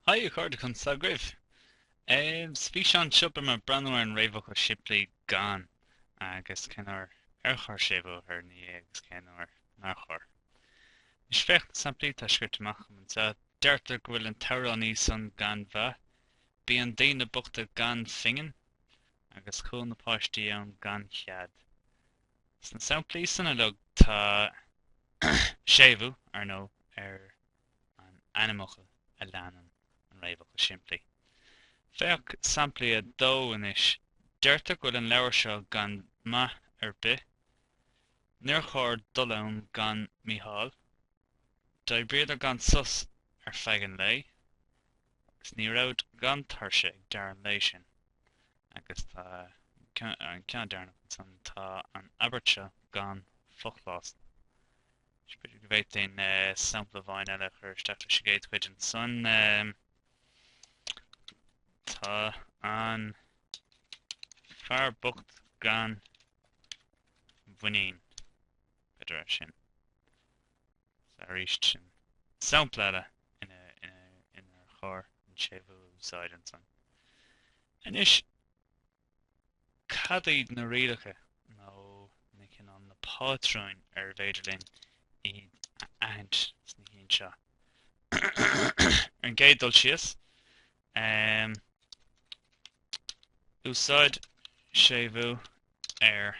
Haigh a chairde, conas atá agaibh! Sa bhfíseán seo beidh mé ag breathnú ar an réamhfhocal simplí gan agus cén uair ar chóir séimhiú a chur ina dhiaidh agus cén uair nár chóir. Anois féach na samplaí atá scrite amach agam anseo. Deirtear go bhfuil an t-amhránaí san gan mhaith, bíonn daoine bochta gan phingin, agus chuaigh na páistí ann gan chead. Sna samplaí san uilig tá séimhiú, ar ndóigh, ar an ainmfhocal a leanann an réamhfhocal simplí. Féach samplaí 2 anois. Deirtear go bhfuil an leabhar seo gan maith ar bith. Níor chóir dul ann gan Mícheál. D'oibríodar gan sos ar feadh an lae, agus ní raibh siad gan tuirse ag deireadh an lae sin. Agus tá an ceann deireanach ansan, tá an abairt seo gan fochlásal. Is b'fhéidir go bhféadfainn sampla amháin eile a chur isteach leis an gcéad chuid ansan. Tá an fear bocht gan mhuinín. b'fhéidir sin. Is arís sin sampla eile inar chóir an séimhiú a úsáid ansan. Anois, cad iad na rialacha nó na cineál, na pátrúin arbh fhéidir linn iad a aithint sna cinn seo? Ar an gcéad dul síos, um, úsáid séimhiú ar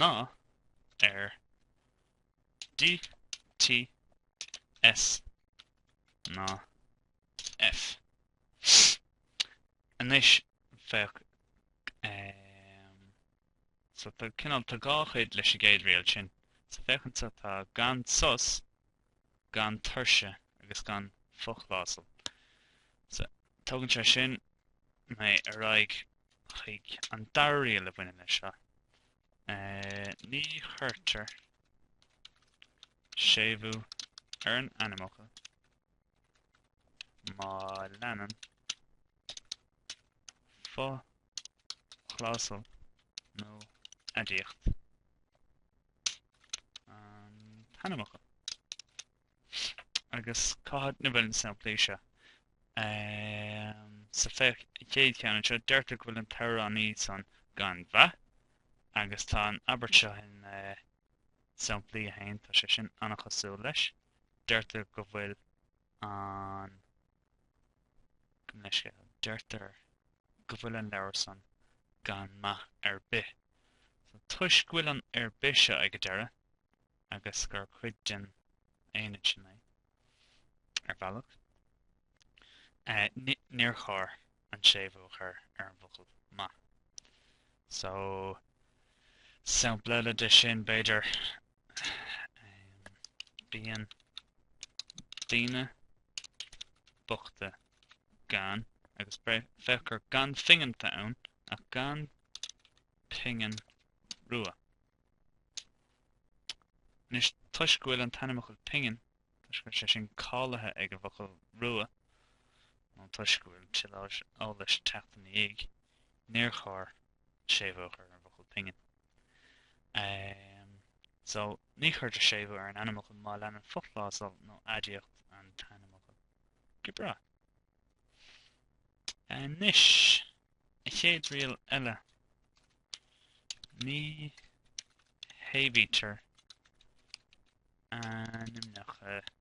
ná ar DTS ná F. Anois féach so tá cineál tá dhá chuid leis an gcéad riail sin so féach anso tá gan sos gan tuirse agus gan fochlásal. So tugann sé sin mé ar aghaidh chuig an dara riail a bhaineann leis seo. Ní chuirtear séimhiú ar an ainmfhocal má leanann fochlásal nó aidiacht an t-ainmfhocal. Agus cá háit ina bhfuil na samplaí seo? So féach an chéad cheann anseo, deirtear go bhfuil an t-amhránaí san gan mhaith, agus tá an abairt seo in samplaí a haon, tá sé sin an-chosúil leis. Deirtear go bhfuil an na scéal, deirtear go bhfuil an leabhar san gan maith ar bith. So, toisc go bhfuil an ar bith seo ag an deireadh, agus gur chuid den aonad sin é, ar bhealach, eh, níor chóir an séimhiú a chur ar an bhfocal maith. So, sampla eile de sin, b'fhéidir. Bíonn daoine bochta gan, agus féach gur gan phingin atá ann, ach gan pingin rua. Anois, toisc go bhfuil an t-ainmfhocal pingin, toisc go bhfuil sé sin cáilithe ag an bhfocal rua, nó toisc go bhfuil tuilleadh eolais ag teacht ina dhiaidh, níor chóir séimhiú a chur ar an bhfocal pingin. Um, so, ní chuirtear séimhiú ar an ainmfhocal má leanann fochlásal nó aidiacht an t-ainmfhocal. Go breá. Anois, an chéad riail eile. Ní shéimhítear ainmneacha